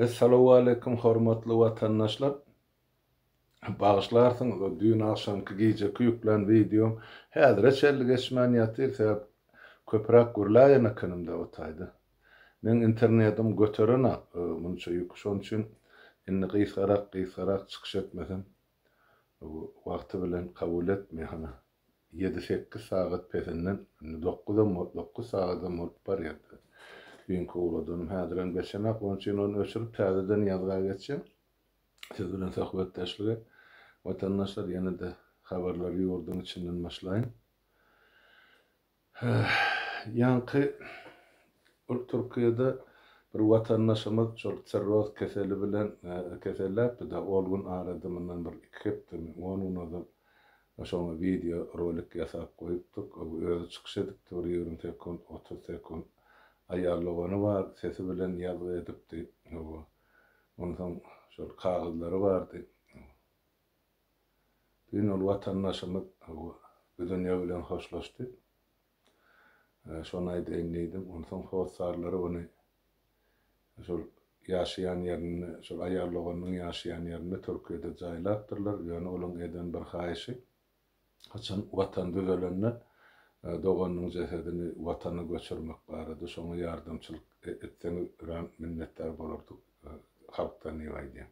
Essalawaleýkum hormatly watandaşlar! Bagyşlarsyňyz o düýn agşamky gijeki ýüklän wideom häzire çenli geçmän ýatyr sebäp köpüräk gürläýen ekenim dewataýda. Meň internedim göterenak munça ýüki şoň üçin indi gysgarak gysgarak çykyş etmesem wagty bilen kabul etmeýär hana. ýedi-sekiz sagat pesinden, indi dokuzam bolup, dokuz sagadam bolup barýar. Düýnki ugradanym häzirem geçenok, onuň üçin ony öçürip, täzeden ýazga geçýän. Siz bilen söhbetdeşlige, watandaşlar, ýene-de habarlary ýurduň içinden başlaýyn. Ýaňky ol Türkiýede bir watandaşymyz şol sirroz keseli bilen keselläpdi-de, ol gün arada mundan bir iki hepdemi, on gün ozal şoňa wideo rolik ýasap goýupdyk. Özi çykyş edipdi bir ýigrimi sekunt, otuz sekunt. Aýal dogany bar, sesi bilen ýazgy edipdi. Onsoň şol kagyzlary bardy. Bu gün ol watandaşymyz bu dünýe bilen hoşlaşdy. Şony aýdaýyn diýdim. Onsoň hossarlary ony şol ýaşaýan ýerinde, şol aýal doganynyň ýaşaýan ýerinde Türkiýede jaýlapdyrlar. Ýöne olaň eden bir haýyşy, haçan Watan düzelende doganynyň jesedini Watana göçürmek barada. Şoňa ýardamçylyk etseňiz örän minnetdar bolardyk halkdan diýip aýdýar.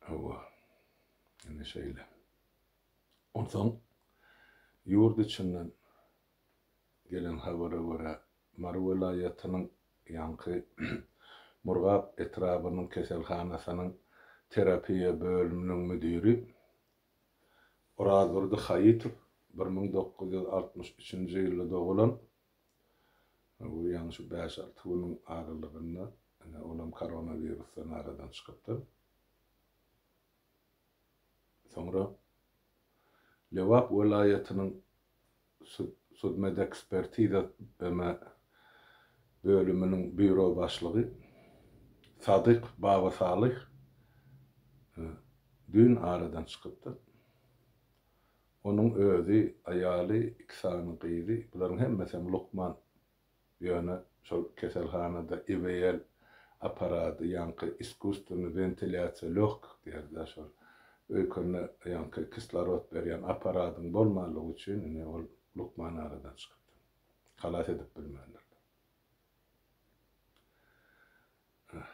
Hawa, indi şeýle. Onsoň, ýurt içinden gelen habara görä, Mary welaýatynyň ýaňky Murgap etrabynyň keselhanasynyň terapiýa bölüminiň müdiri Orazdurdy Haýytow bir müň dokuz ýüz altmyş üçünji ýylda dogulan Bu ýaňy şu bäş-alty günüň aralygynda olam koronawirusdan aradan çykypdyr. Soňra Lebap welaýatynyň sudmedekspertiza bölüminiň býuro başlygy Sadyk Babasalyh düýn aradan çykypdyr. Onuň özi, aýaly, iki sany gyzy, bularyň hemmesem lukman. Ýöne şol keselhanada IVL apparady, ýaňky iskusstweniý wentilýasiýa lёgkik diýeris-ä şol, öýkende ýaňky kislorod berýän apparadyň bolmanlygy üçin indi ol lukman aradan çykypdyr. Halas edip bilmändirler. Öh,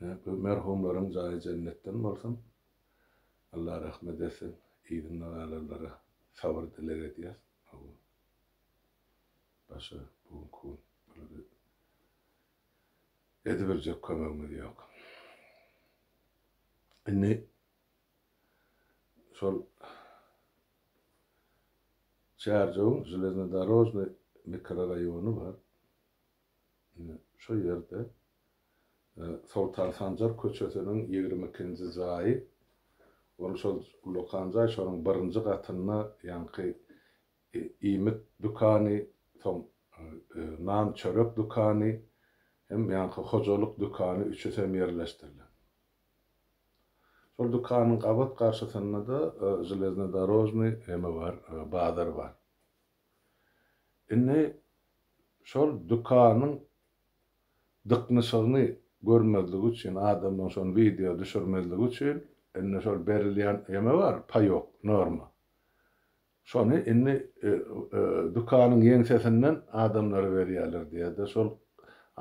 ne, bu merhumlaryň jaýy jennetden bolsun. Allah rahmet etsin yzynda galanlara sabyr dileg edýäs Allam başga bu günki gün bulara edibiljek kömegimiz ýok indi şol Çärjewiň Železnodorožnyý mikroraýony bar şo ýerde Soltan Sanjar köçesiniň ýigrimi ikinji jaýy, ony şol ullakan jaý, şonuň birinji gatynda ýaňky iýmit dükany, soň nan-çörek dükany hem ýaňky hojalyk dükany üçüsem ýerleşdirilen. Şol dükanyň gabat garşysynda-da Železnodorožnyý emi bar, bazar bar. Indi şol dükanyň dyknyşygyny görmezlik üçin adamdan şony wideo düşürmezlik üçin indi şol berilýän eme bar paýok norma şony indi dükanyň ýeňsesinden adamlara berýärler diýýärde şol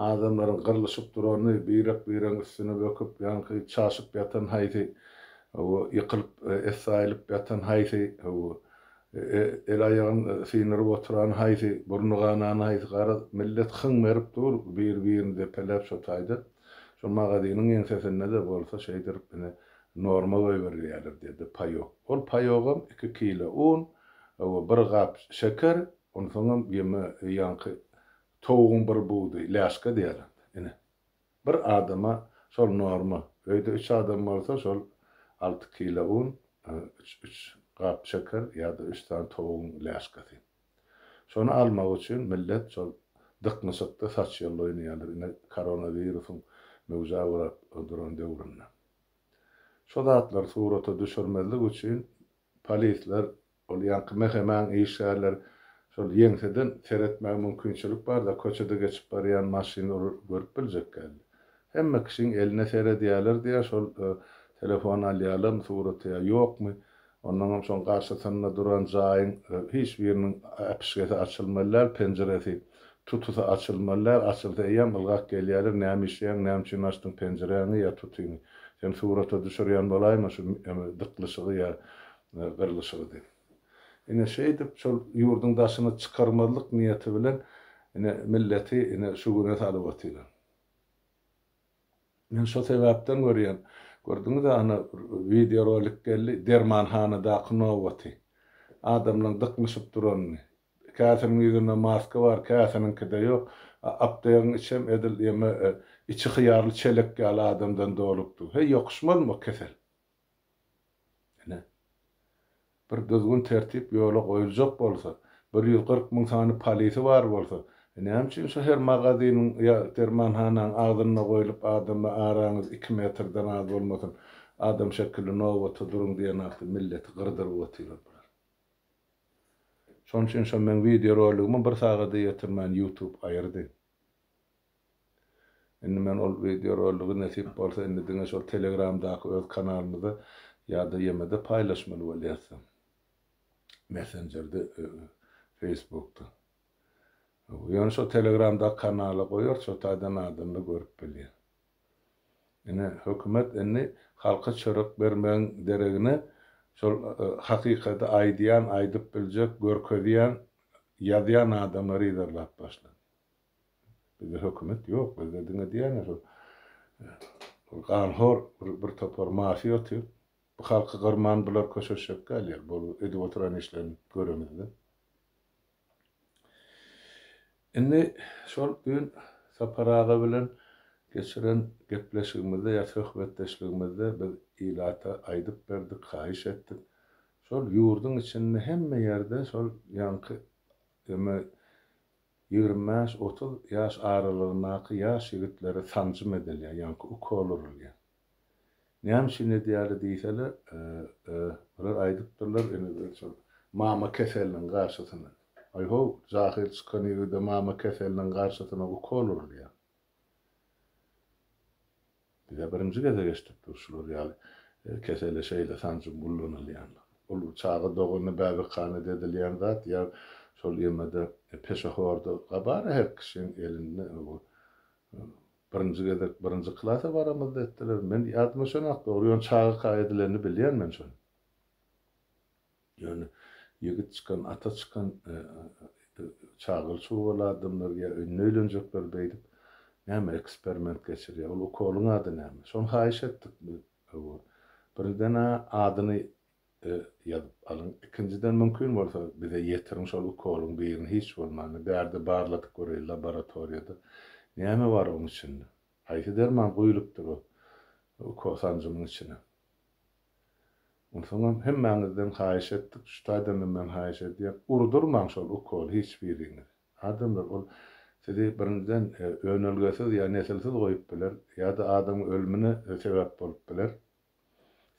adamlaryň gyrlyşyp durany birek biregiň üstüne böküp ýaňky çaşyp ýatan haýsy ýykylyp essaýylyp ýatan haýsy El-aýagyn syndyryp oturan haýsy, burny ganan haýsy, garaz, millet hyň berip dur, bir-birini depeläp şo taýda. Şo magazynyň ýeňsesinde-de bolsa şeýdirip ine, norma goýberilýärler diýdi, paýok. Ol paýogam iki kile un we bir gap şeker, onsoňam ýeme ýaňky towugyň bir budy läşka diýýärler, ine, Bir adama şol norma. Öýde üç adam bolsa şol alty kilo un, üç üç gap şeker ýa-da üç sany towugyň läşkesi. Şony almak üçin millet şol dyknyşykda saç ýolla oýnaýarlar ine koronawirusyň möwjä gurap duran döwründe. Şu zatlary surata düşürmezlik üçin polisler Ol ýaňky mehemäň işgärleri şol ýeňseden seretmäge mümkinçilik barda köçede geçip barýan maşynlary görüp biljek geldi. Hemme kişiň eline seredýäler diýýär, şol telefon alýalarmy suraty ýa ýokmy, onnoňam şoň garşysynda duran jaýyň hiç biriniň äpişgesi açylmaly däl, penjiresi, tutusy açylmaly däl, açylsa eýýäm ylgap gelýäler, näme işleýäň, näme üçin açdyň penjiräňi ýa tutyňy, seni surata düşürýän bolaýma şu dyklyşygy ýa we gyrlyşygydy. Ine, şeýdip, şol ýurduň daşyna çykarmazlyk niýeti bilen, ine, milleti, ine, şu güne salyp otyran. Men şo sebäpden görýän, gördüňiz-ä, ana, wideorolik geldi, dermanhanadaky nobaty. Adamlaryň dyknyşyp duranyny. Käsiniň ýüzünde maska bar, käsiniňkide ýok. A aptegiň içem edil ýeme içi hyýarly çelek ýaly adamdan dolupdy. Heý, ýokuşmazmy o kesel? Ine, bir düzgün-tertip ýola goýuljak bolsa, bir ýüz kyrk müň sany polisi bar bolsa, näme üçin şo her magaziniň ýa dermanhanaň agzynda goýlup adamlar araňyz iki metrden az bolmasyn, adam şekilli nobata duruň diýen ýaly milleti gyrdyryp otyrlar bular. Şonuň üçin şo meň wideoroligimi bir sagada ýetirmän ýutub aýyrdy. Indi men ol wideorolygy nesip bolsa indi diňe şol telegramdaky öz kanalymyzda ýa-da ýemede paýlaşmaly bolýasam. Messenjerde Facebookda. Ýöne şol telegramdaky kanala goýarys şo taýdan adamlar görüp bilýär. Ine, hökümet indi halka çörek bermegiň deregine şol hakykady aýdýan, aýdyp biljek, görkezýän, ýazýan adamlary yzarlap başlady. Bizde hökümet ýok, bizde diňe diýýän şol ganhor bir topar mafiýa otyr. Bu halky gyrman bular köşeşjek däl ýeri, bu edip oturan işlerini göremizde. Indi şol gün Sapar aga bilen geçiren gepleşigimizde ýa söhbetdeşligimizde biz ilata aýdyp berdik, haýyş etdik. Şol ýurduň içinde hemme ýerde şol ýaňky ýa-da ýigrimi bäş, otuz ýaş aralygyndaky ýaş ýigitlere sanjym edilýär, ýaňky ukol urulýar. Näme üçin edýärler diýseler, ýa-da aýdypdyrlar, indi şol mama keseliniň garşysyna. Aý-how, jahyl çykan ýigide mama keseliniň garşysyna ukol urulýar. Biz-ä birinji gezek eşidipdiris şular ýaly kesele şeýle sanjym ullanylýandygyny. Ol çaga doganda bäbekhanadan edilýän zat ýa şol ýene-de peşehorda, bar-a her kişiň elinde bu Birinji gezek birinji klasa baramyzda etdiler. Men ýadyma şonok dogry, ýöne çagaka edilenini bilýän men şony. Ýöne ýigit çykan, ata çykan çagaly çugaly adamlar ýa indi öýlenjekler beýdip näme eksperment geçirýär. Ol ukolyň ady näme? Şony haýyş etdik biz. Birinjiden-ä adyny e, ýazyp alyň. Ikinjiden mümkin bolsa bize ýetiriň şol ukolyň birini hiç bolmanda bärde barladyk göreýin laboratoriýada. Näme bar oň içinde? Haýsy derman guýlupdyr o ukol sanjymyň içine? Onsoňam hemmäňizden haýyş etdik, şu taýdanam men haýyş edýän, urdurmaň şol ukoly hiç biriňiz. Adamlar ol sizi birinjiden e, önelgesiz ýa nesilsiz goýup biler, ýa-da adamyň ölümine e, sebäp bolup biler.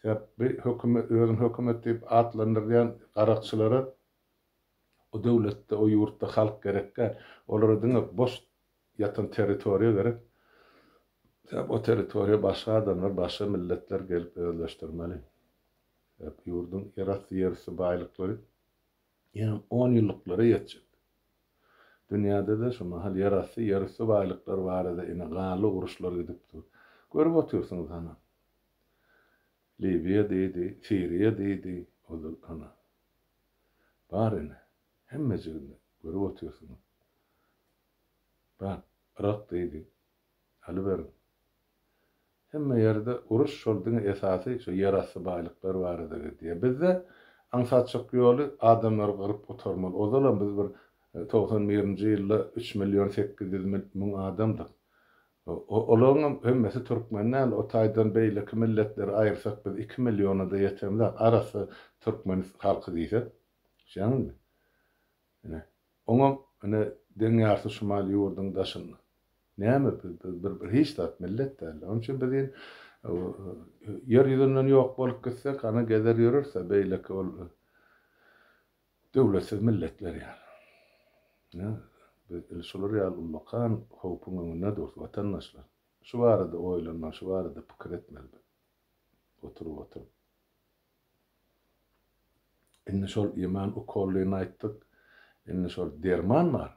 Sebäp bi hökümet özüni hökümet diýip atlandyrýan garakçylara o döwletde o ýurtda halk gerek däl. Olara diňe boş ýatan territoriýa gerek. Sebäp o territoriýa başga adamlar başga milletler gelip özleşdirmeli. Sebäp ýurduň ýerasty ýerüsti baýlyklary Ýöne onýyllyklara ýetjek. Dünýäde-de şu mahal ýerasty, ýerüsti baýlyklar barada ine ganly uruşlar gidip dur. Görüp otyrsyňyz hana. Liwiýa diýdi, Siriýa diýdi, ozal hana. Bar ine, hemmejiginde, görüp otyrsyňyz. Bak, Yrak diýdi, Alyberiň. Hemme ýerde uruş şol diňe esasy şu ýerasty baýlyklar barada gidýär. Bizde aňsatjak ýoly adamlary gyryp gutarmaly. Ozalam biz bir togsan birinji ýylda üç million sekiz ýüz müň adamdyk. Olaryňam hemmesi türkmen däl. O taýdan beýleki milletleri aýyrsak biz iki milliona-da ýetemzak. Arassa türkmen halky diýsek. Düşýäňizmi? Ine, oňam, ine, deň ýarty şumal ýurduň daşynda. Näme biz, biz bir, bir hiç zat millet däl-le. Onuň üçin biz in, Ýer ýüzünden ýok bolup gitsek, ana, gezer ýörüris-ä, beýleki ol döwletsiz milletler ýaly. Ine, biz il şular ýaly ullakan howpuň öňünde durus, watandaşlar. Şu barada oýlanmaly, şu barada pikir etmeli biz. Oturyp, oturyp. Indi şol iman ukollyny aýtdyk. Indi şol derman bar.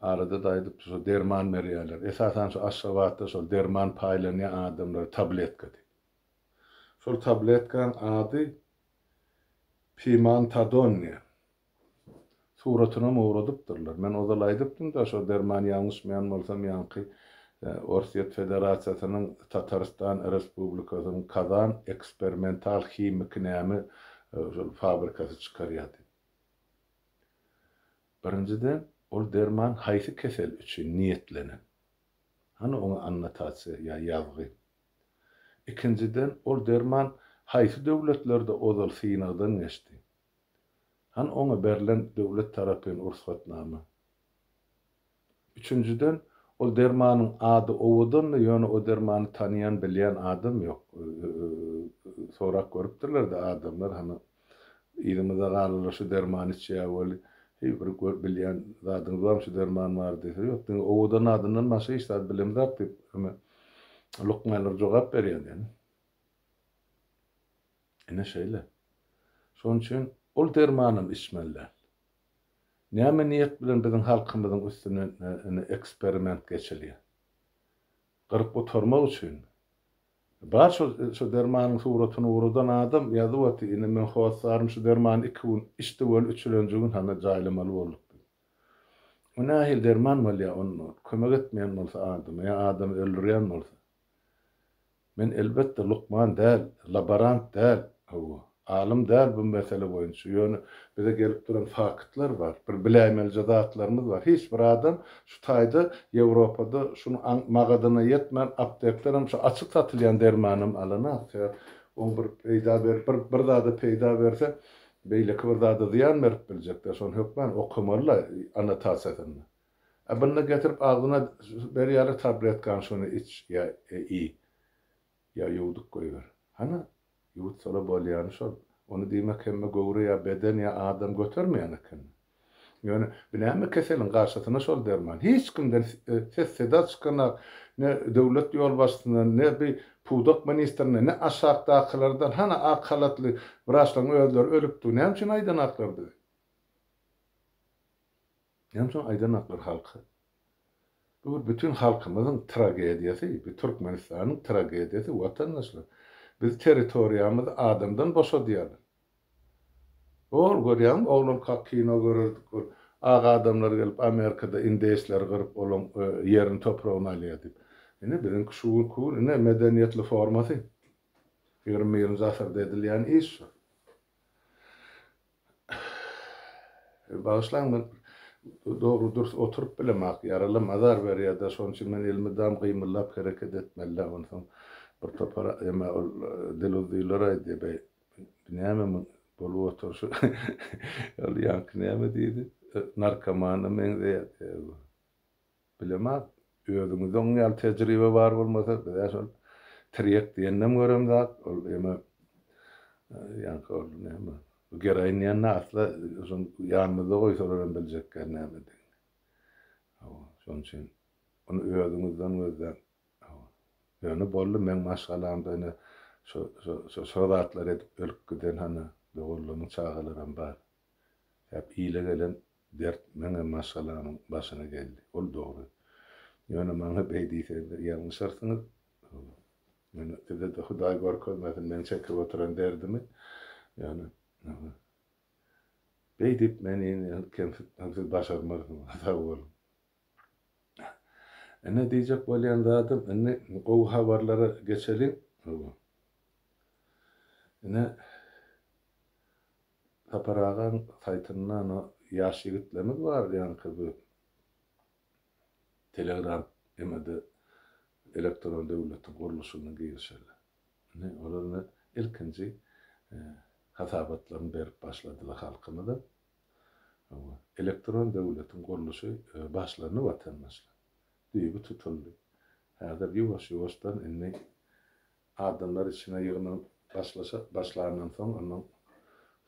Arada-da aýdypdy, şo derman berýärler. Esasan şu Aşgabatda şol derman paýlanýar adamlara tabletka diýip. Şol tabletkanyň ady Pimantadon diýen. Suratynam ogradypdyrlar. Men ozal aýdypdym-da, şo derman ýalňyşmaýan bolsam ýaňky Orsýet Federasiýasynyň Tatarystan Respublikasynyň Kazan eksperimental himiki näme şol fabrikasy çykarýar diýip. Birinjiden, ol derman haýsy kesel üçin niýetlenen? Hany oňa annotasiýa ýa ýazgy? Ikinjiden, ol derman haýsy döwletlerde ozal synagdan geçdi? Hany oňa berlen döwlet tarapyn rugsatnama? Üçünjiden, ol dermanyň ady owadandy, ýöne o dermany tanaýan, bilýän adam ýok. Sorap görüpdirler-de adamlar, hany, yzymyzda galylar şu dermany içýär weli, heý, bir gör, bilýän zadyňyz barmy, şu derman bar diýse, ýok, diňe owadan adyndan başga hiç zat bilemzok diýip, eme, lukmanlar jogap berýär diýeni. Ine şeýle. Şonuň üçin ol dermanam içmeli däl. Näme niýet bilen biziň halkymyzyň üstünden indi eksperiment geçilýär? Gyryp gutarmak üçinmi? Bar şol şo dermanyň suratyny ugradan adam ýazyp otyr, indi men hossarym şu dermany iki gün içdi weli üçülenji gün hany jaýlamaly bolduk diýip. O nähili derman bolýar onda kömek etmeýän bolsa adama ýa adamy öldürýän bolsa? Men elbetde lukman däl, laborant däl, hawa, alym däl bu mesele boýunça, ýöne bize gelip duran faktlar bar, bir biläýmelije zatlarymyz bar, hiç bir adam şu taýda Ýewropada şuny aň magadyna ýetmän aptekden hem şu açyk satylýan dermanam alanok, sebäp oň bir peýda berip bir bir zada peýda berse beýleki bir zada zyýan berip biljekdä, şony hökmän okamalyda anatasiýasynda. A bunda getirip agzyna berýärler tabletkany şony iç ýa iý. Ýa ýuwdup goýber. Hany, ýuwutsalar bolýany şol. Ony diýmek hemme göwre ýa beden ýa adam götermeýän eken. Ýöne bu näme keseliň garşysyna şol derman. Hiç kimden ses-seda çykanok. Ne döwlet ýolbaşçysyndan, ne bi pudak ministrinden, ne aşakdakylardan. Hany ak halatly wraçlaryň özleri ölüpdi. Näme üçin aýdanoklar bize? Näme üçin aýdanoklar halka? Bu bir bütin halkymyzyň tragediýasy, bu Türkmenistanyň tragediýasy watandaşlar. Biz territoriýamyzy adamdan boşadýarlar. Ol görýäňmi oglankak kino görerdik ol ak adamlar gelip Amerikada indeýsleri gyryp olaň ýerini topragyny alýar diýip. Ine biziňki şu günki gün ine medeniýetli formasy. Ýigrimi birinji asyrda edilýän iş şu. Bagyşlaň men dogry dürs oturyp bilemok ýaralam azar berýärde şonuň üçin men elmydam gymyldap hereket etmelidä onsoň bir topar eme ol diluzzylar aýdýa beý näme muň bolup oturşy ol ýaňky näme diýdi narkomana meňzeýär diýýä bu. Bilemok. Özüňizde oň ýaly tejribe bar bolmasa, biz-ä şol tirýek diýendem görem zat, ol ýene ýaňky ol näme, geroin diýende asla şony ýanymyzda goýsalar hem biljekkäň nämedigini. Hawa, şonuň üçin ony özüňizden gözläň. Hawa. Ýöne boldy, meň maşgalamda ine şo-şo-şo zatlar edip ölüp giden hany doganlaryň çagalaram bar. Hep ile gelen dert meňem maşgalamyň başyna geldi. Ol dogry. Ýöne maňa beý diýseňizler ýalňyşarsyňyz. Ýöne size-de Hudaý görkezmesin meň çekip oturan derdimi. Ýöne beý diýip meni kemsitmek siz başarmarsyňyz. Sag boluň. Ine diýjek bolýan zadym indi gowy habarlara geçeliň. Ine Sapar agaň saýtynda ony ýaş ýigitlerimiz bar diýýänka bu telegram emede elektron döwletiň gurluşygyna girişeli. Indi olar indi ilkinji hasabatlaryny berip başladylar halkymyza. Hawa, elektron döwletiň gurluşy başlandy watandaşlar. Düýbi tutuldy. Häzir ýuwaş-ýuwaşdan indi Adamlar içine ýygnanyp başlaşa başlandan soň, ondan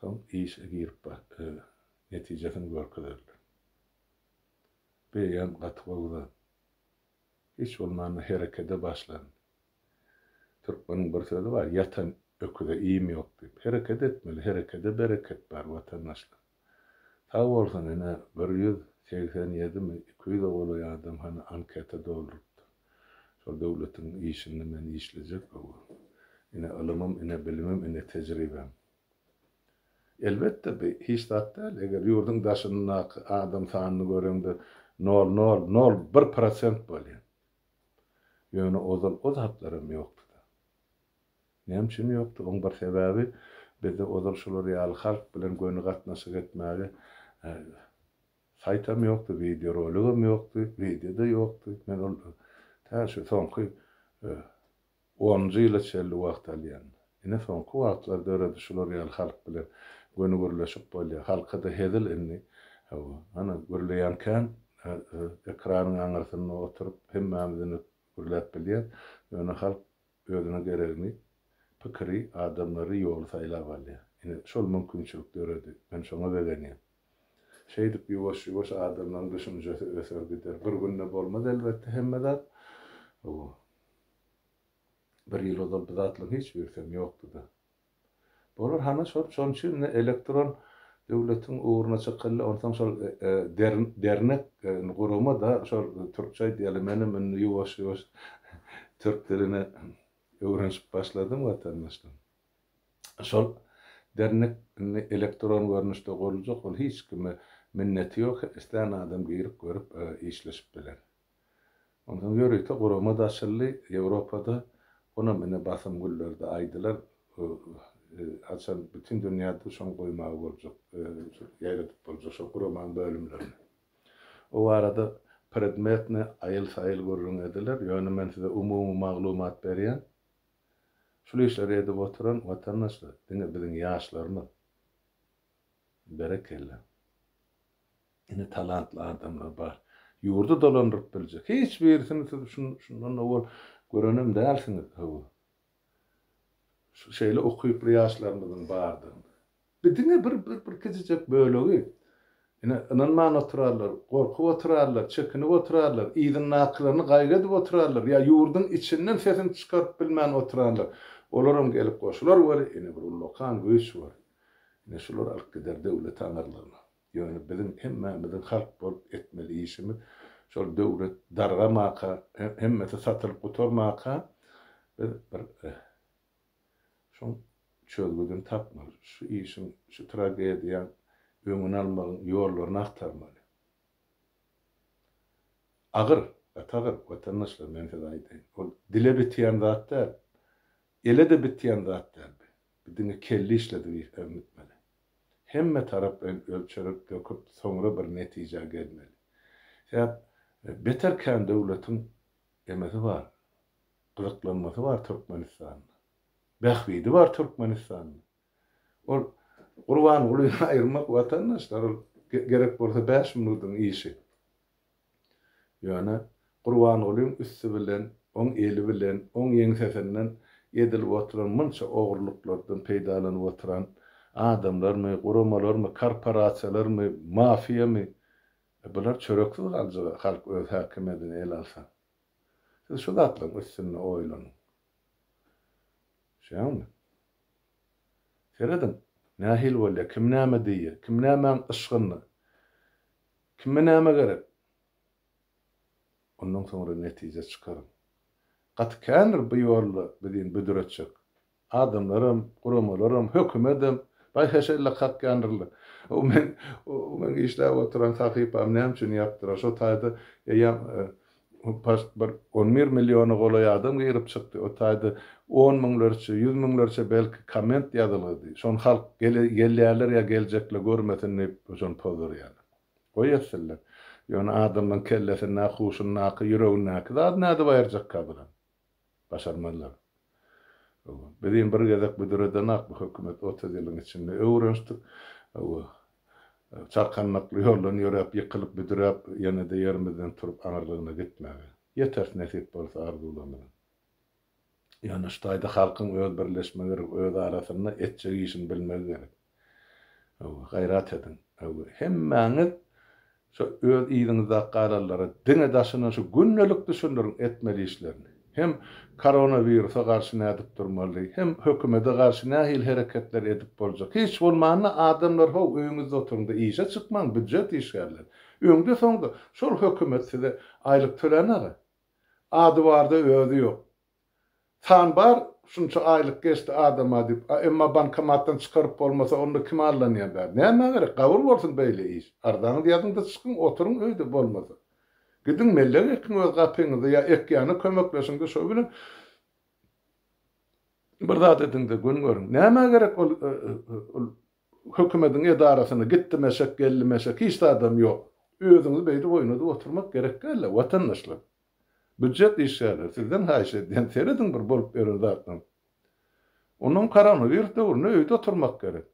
soň işe girip ba öz netijesini görkezerler. Beýan gaty gowy zat. Hiç bolmanda herekede başlan. Türkmeniň bir sözi bar, ýatan öküze iým ýok diýip. Hereket etmeli, herekede bereket bar, watandaşlar. Sag bolsun ine bir ýüz segsen ýedimi iki ýüze golaý adam hany anketa doldurypdyr. Şol döwletiň işinde men işlejek gowy. Ine ylymym ine bilimim ine tejribem. Elbetde bi hiç zat däl eger ýurduň daşyndaky adam sanyny göreňde nol nol nol bir prosent bolýa. Ýöne ozal o zatlaram ýokdyda. Näme üçin ýokdy? Oň bir sebäbi, bizde ozal şular ýaly halk bilen göni gatnaşyk etmäge saýtam ýokdy, wideoroligem ýokdy, wideo-da ýokdy. Men ol tä şu soňky onunjy ýyla çenli wagt alýan. Ine, soňky wagtlar döredi şular ýaly halk bilen göni gürleşip bolýar. Halka-da hezil indi. Hawa, ana, gürleýän kän. Ekranyň aňyrsynda oturyp hemmämiz indi gürläp bilýäs. Ýöne halk Özüne geregini, pikiri, adamlary, ýoly saýlap alýar. Ine, şol mümkinçilik döredi. Men şoňa begenýän. Şeýdip, ýuwaş-ýuwaş adamlaryň düşünjesi öser gider. Bir günde bolmaz, elbetde, hemme zat. Hawa. Bir ýyl ozal bu zatlaryň hiç birisem ýokdy-da. Bolar hany şol şonuň üçin indi elektron döwletiň ugruna çykyly onsoň şol dernek gurama da şol türkçe aýdýaly menem indi ýuwaş ýuwaş türk dilini öwrenşip başladym watandaşlar şol dernek indi elektron görnüşde guruljak ol hiç kime minneti ýok islän adam girip görüp işleşip biler. Onsoň ýörite gurama-da açyldy. Ýewropada, onam ine basym güllerde aýdylar. Haçan bütin dünýäde şony goýmaga boljak, ýaýradyp boljak şol guramanyň bölümlerini. O barada predmetne aýyl-saýyl gürrüň ediler. Ýöne men size umumy maglumat berýän. Şul işleri edip oturan watandaşlar diňe biziň ýaşlarymyz. Berekella. Ine talantly adamlar bar. Ýurdy dolandyryp biljek. Hiç birisini siz şundan owal görenem dälsiňiz hawa. Şeýle ukyply ýaşlarymyzyň bardygyny. Bu diňe bir bir kiçijek bölegi. Ine ynanman oturarlar, gorkup oturarlar, çekinip oturarlar, yzyndakylaryny gaýgy edip oturarlar ýa ýurduň içinden sesini çykaryp bilmän oturanlar. Olaram gelip goşular weli ine bir ullakan güýç bar. Ine şular alyp gider döwlet aňyrlygyna. Ýöne biziň hemmämiziň halk bolup etmeli işimiz, şol döwlet dargamaka, hemmesi satylyp gutarmaka, biz bir şuň çözgüdini tapmaly. Şu işiň, şu tragediýaň öňüni almagyň ýollaryny agtarmaly. Agyr, gaty agyr, watandaşlar, men size aýdaýyn. Ol dile bitýän zat däl. Ele-de bitýän zat däl. Bu diňe kelle işledi, äwmetmeli. Hemme taraplaýyn ölçerip döküp soňra bir netijä gelmeli. Sebäp beter kän döwletiň emesi bar, gyzyklanmasy bar Türkmenistanda. Bähbidi bar Türkmenistanda. Ol Gurbangulyny aýyrmak watandaşlar ol gerek bolsa bäş minudyň işi. Ýöne Gurbangulyň üsti bilen, oň eli bilen, oň ýeňsesinden edilip oturan munça ogurlyklardan peýdalanyp oturan adamlarmy, guramalarmy, korporasiýalarmy, mafiýamy? E, bular çöreksiz galjak-a, halk öz häkimiýedini ele alsa. Siz şu zatlaryň üstünde oýlanyň. Düşýäňmi? Serediň, nähili bolýar, kim näme diýýär, kim nämäň yşgynda. Kime näme gerek? Ondan soňra netije çykaryň. Gaty kändir bu ýolda bizin büdür etjek. Adamlaram, guramalaram, hökümedem baý heşelle kakýandyrlar. O meň, o meň işläp oturan sahypam näme üçin ýapdylar? Şo taýda eýýäm Bu post bir on bir milliona golaý adam girip çykdy. O taýda on müňlerçe, ýüz müňlerçe belki komment ýazylgydy. Şony halk gelýärler ýa geljekle görmesin diýip şony pozdurýarlar. Goý etsinler. Ýöne adamlaň kellesindäki, huşundaky, ýüregindäki zady nädip aýyrjak kadran. Başarmazlar. Biz iň bir gezek büdredenak bu hökümet otuz ýylyň içinde öwrenşdik. Çarkandakly ýoldan ýöräp, ýykylyp, büdräp, ýene-de ýerimizden turup aňyrlygyna gitmäge. Ýeters nesip bolsa arzuwlarymyzyň. Ýöne şu taýda halkyň öz birleşmegi gerek, öz arasynda etjek işini bilmegi gerek. Öwü, gaýrat ediň, öwü, hemmäňiz şo öz yzyňyzda galanlara diňe daşyndan şu gündelik düşündiriň etmeli işlerini. Hem koronawirusa garşy nädip durmaly, hem hökümede garşy nähili hereketler edip boljak. Hiç bolmanda adamlar how öýüňizde oturyňda işe çykmaň býujet işgärleri. Öňde soňda şol hökümet size aýlyk tölänage. Ady barda özi ýok. San bar, şunça aýlyk geçdi adama diýip, a emma bankomatdan çykaryp bolmasa onda kim allanýar bäri. Nämä gerek, gabyr bolsun beýle iş. Arzaňyzy ýazyň-da çykyň, oturyň öýde bolmasa. Gidiň mellek ekiň öz gapyňyzda ýa ekýäne kömekleşiň-de şo bilen bir zat ediň-de gün görüň. Nämä gerek ol hökümediň edarasyna gitdim-eşek, geldim-eşek, hiç zadam ýok. Özüňizi beýdip oýnadyp oturmak gerek däl-le, watandaşlar. Býujet işgärleri, sizden haýyş edýän, serediň bir bolup ýören zatdan. Onam koronawirus döwründe öýde oturmak gerek.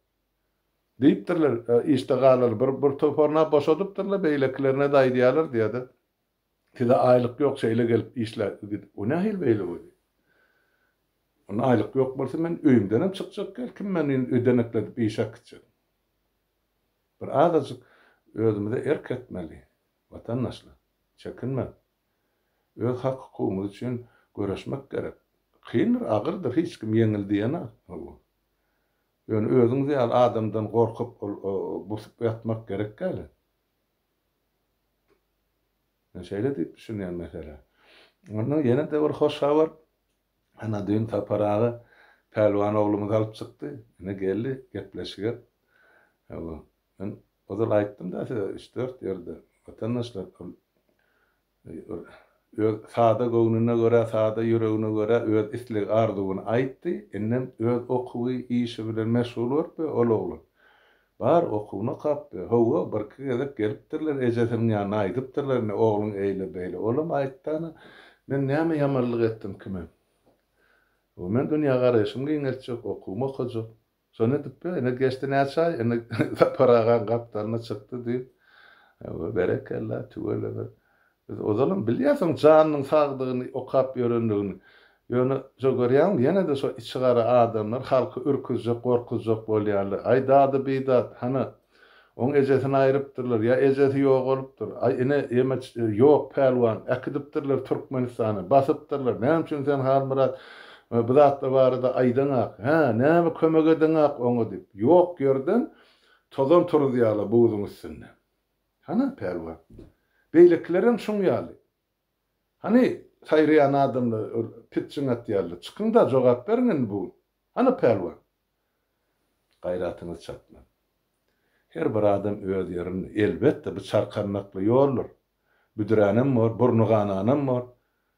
Diýipdirler, işde galar, bir bir toparyna boşadypdyrlar, beýlekilerine-de aýdýarlar diýýärdi. Size aýlyk ýok, şeýle gelip işlä gidip. O nähili beýle bolýar? Onda aýlyk ýok bolsa men öýümdenem çykjak däl, kim meni indi ödenekledip işe äkitjek? Bir azajyk özümize erk etmeli. Watandaşlar, çekinmäň! Öz hak-hukugymyz üçin göreşmek gerek. Kyndyr, agyrdyr, hiç kim ýeňil diýenok. Hawa. Ýöne özüňiz ýaly adamdan gorkup, busup ýatmak gerek däl-ä. Men şeýle diýip düşünýän meselä. Onda ýene-de bir hoş habar. Ana, düýn Sapar aga Pälwan oglumyzy alyp çykdy. Ine, geldi, gepleşige. Hawa. Men ozal aýtdym-da size üç-dört ýerde, watandaşlar, ol öz sada göwnüne görä, sada ýüregine görä öz islegi-arzuwyny aýtdy, indem öz okuwy, işi bilen meşgul bolup we ol oglan bar okuwyny okap we hawa, birki gezek gelipdirler, ejesiniň ýanyna aýdypdyrlar, indi ogluň eýle-beýle, olam aýtdy ana, men näme ýamanlyk etdim kime? Hawa, men dünýä garaýşymy giňeltjek, okuwymy okajak, Şony edip-de, ine, geçdi näçe aý, indi Sapar agaň gapdalyna çykdy diýip, Hawa, berekella, tüweleme. Biz ozalam bilýäs oň janynyň sagdygyny, okap ýörendigini. Ýöne, şo görýäňmi, ýene-de şo içigara adamlar halky ürküzjek, gorkuzjak bolýarlar. Aý, dady-bidat, hany, Oň ejesini aýrypdyrlar, ýa ejesi ýogalypdyr. Aý, ine, ýeme ýok, pälwan, äkidipdirler Türkmenistana, basypdyrlar. Näme üçin sen, Halmyrat, bu zatlar barada aýdaňak, hä? Näme kömek edeňak oňa? diýip, ýok ýerden tozan turuzýarlar buzuň üstünde. Hana, pälwan, beýlekilerem şuň ýaly. Hany, saýraýan adamlar, pitjiň atýarlar. Çykyň-da, jogap beriň indi bu gün. Hana, pälwan, Gaýratyňyz çatman. Her bir adam öz ýerinde. Elbetde, bu çarkandakly ýoldur. Büdränem bor, burny gananam bor.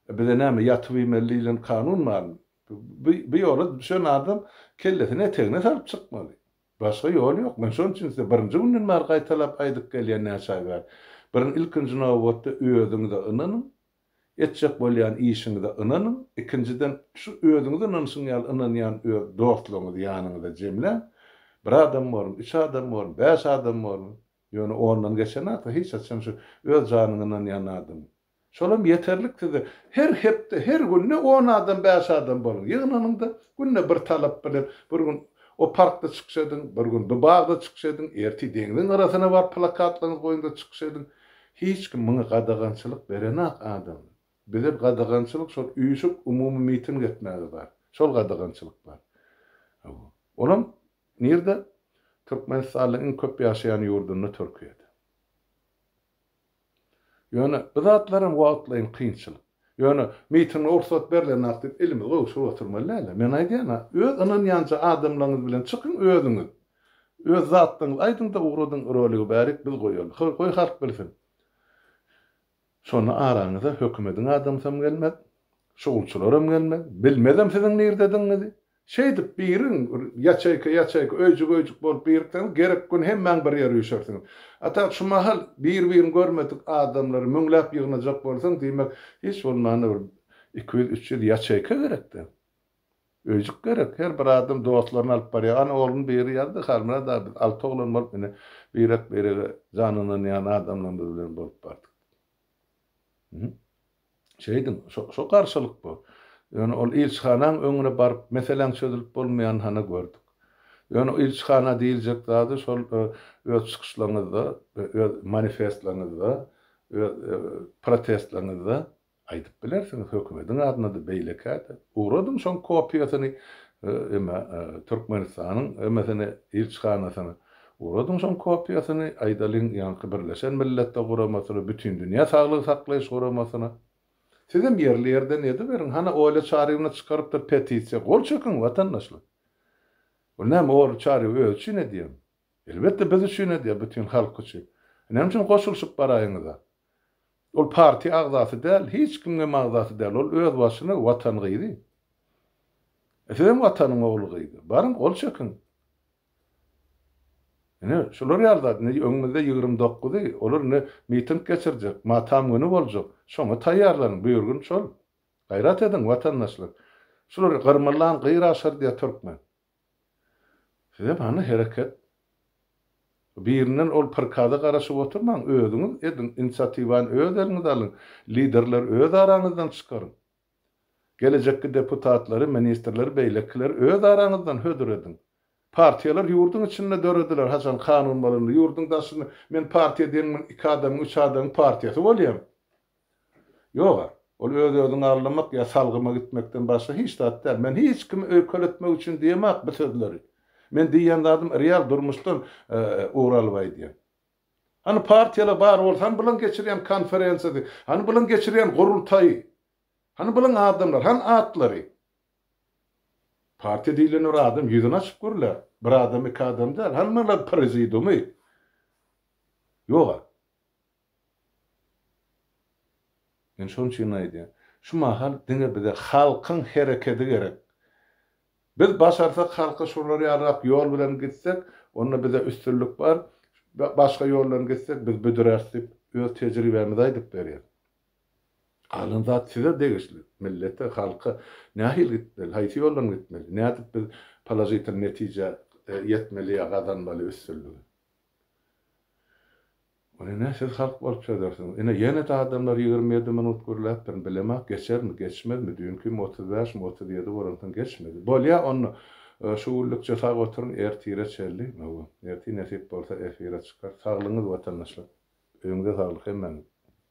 E, bize näme, ýatyp iýmeli diýlen kanun barmy? Bu, bu ýola düşen adam kellesini etegine salyp çykmaly. Başga ýol ýok. Men şonuň üçin size birinji günden bäri gaýtalap aýdyp gelýän, näçe aý bäri. Birin, ilkinji nobatda özüňize ynanyň. Etjek bolýan işiňize ynanyň, ikinjiden, şu özüňize ynanyşyň ýaly ynanýan öz dostlaryňyzy ýanyňyza jemläň. Bir adam bormy, üç adam bormy, bäş adam bormy, ýöne ondan geçen zat-a hiç haçan şu öz janyňa ynanýan adam. Şolam ýeterlik size. Her hepde, her günde on adam, bäş adam boluň, ýygnanyň-da, günde bir talap bilen, bir gün o parkda çykyş ediň, bir gün bu bagda çykyş ediň, ertir deňziň gyrasyna baryp plakatlaryňyzy goýuň-da çykyş ediň. Hiç kim muňa gadagançylyk berenak adam. Bize gadagançylyk şol üýşüp umumy miting etmäge bar. Şol gadagançylyk bar. Hawa. Olam nirde? Türkmenistanyň iň köp ýaşaýan ýurdunda Türkiýede. Ýöne bu zatlaram wagtlaýyn kynçylyk. Ýöne mitinge rugsat berlenok diýip elimizi gowşuryp oturmaly dälä. Men aýdýan-a, öz ynanýança adamlaryňyz bilen çykyň özüňiz. Öz zatlaryňyzy aýdyň-da ugradyň roligi bärik biz goýaly. Hol goý halk bilsin. Şonda araňyza hökümediň adamsam gelmez, şugulçylaram gelmez. Bilmezem siziň nirdedigiňizi. Şeýdip, biriň, bir ýaçeýka-ýaçeýka, öýjük-öýjük bolup birikseňiz, gerek gün hemmäň bir ýere üýşersiňiz. A tap şu mahal bir-birini görmedik adamlary müňläp ýygnajak bolsaň, diýmek, hiç bolmanda bir iki ýüz, üç ýüz ýaçeýka gerek-dä. Öýjük gerek. Her bir adam dostlaryny alyp barýar. Ana, ogluň biri ýazdy, Halmyrat aga, biz alty oglan bolup, ine, birek-birege jan ynanýan adamlarymyz bilen bolup bardyk. Hü. Şeýdiň, şo garşylyk bu. Ýöne ol ilçihanaň öňüne baryp, meseläň çözülip bolmaýanyny hany gördük. Ýöne ilçihana diýiljek zady şol öz çykyşlaryňyzda, öz manifestlaryňyzda, öz protestlaryňyzda aýdyp bilersiňiz, hökümediň adyna-da, beýlekä-de. Ugradyň şoň kopiýasyny emä Türkmenistanyň emesine, ilçihanasyna. Oradyň şoň kopiýasyny, aýdalyň, ýaňky Birleşen Milletler Guramasyna, Bütindünýä Saglygy saklaýyş guramasyna. Sizem ýerli-ýerden ediberiň. Hany, Oýla Çarýewna çykarypdyr petisiýa. Gol çekiň, watandaşlar! Ol näme, Oýly Çarýew özi üçin edýärmi? Elbetde, biz üçin edýär, bütin halk üçin. Näme üçin goşulyşyp baraýyňyz-a? Ol partiýa agzasy däl, hiç kimiňem agzasy däl. Ol özbaşyna Watan gyzy. Sizem Watanyň ogly-gyzy. Baryň, gol çekiň! Ine, şular ýaly zat. Indi öňümizde ýigrimi dokuzy, olar indi miting geçirjek, matam güni boljak. Şoňa taýýarlanyň, bu gün şol. Gaýrat ediň, watandaşlar. Şulary gyrmylan gyr aşar diýýär türkmen. Sizem hany hereket. Birinden ol prikaza garaşyp oturmaň, özüňiz ediň, inisiatiwany öz eliňize alyň, liderleri öz araňyzdan çykaryň. Gelejekki deputatlary, ministrleri beýlekileri öz araňyzdan hödür ediň. Partiýalar ýurduň içinde dörediler, haçan kanun bolanda, ýurduň daşynda men partiýa deňmen iki adamyň, üç adamyň partiýasy bolýan. Ýog-a, ol öz-özüňi aldamak ýa salgyma gitmekden başga hiç zat däl. Men hiç kimi öýkeletmek üçin diýemok bu sözleri. Men diýýän zadym real durmuşdan ugur alyp aýdýan. Hany partiýalar bar bolsa, hany bilen geçirýän konferensiýasy, hany bilen geçirýän gurultaýy, hany bilen adamlar, hany atlary? Partiýa diýlen bir adam ýüzüni açyp görle, bir adam, iki adam däl, hany maňa prezidiumy? Ýog-a. Men şonuň üçin aýdýan, şu mahal diňe bize halkyň herekedi gerek. Biz başarsak halka şular ýalyrak ýol bilen gitsek, onda bize üstünlik bar, başga ýol bilen gitsek biz büdüräris diýip öz tejribämizi aýdyp berýär. Galan zat size degişli, millete, halka nähili gitmeli, haýsy ýol bilen gitmeli, nädip biz položitel netijä ýetmeli ýa gazanmaly üstünligi. Muny ne siz halk bolup çözersiňiz. Ine, ýene-de adamlar ýigrimi ýedi minut gürläpdirin. Bilemok, geçermi, geçmezmi. Düýnkimi otuz bäşmi, otuz ýedi bolansoň geçmedi. Bolýa, onda, şu günlükçe sag oturyň, ertire çenli, hawa, ertir nesip bolsa efire çykar. Saglygyňyz, watandaşlar. Öýüňize saglyk hemmäňiziň.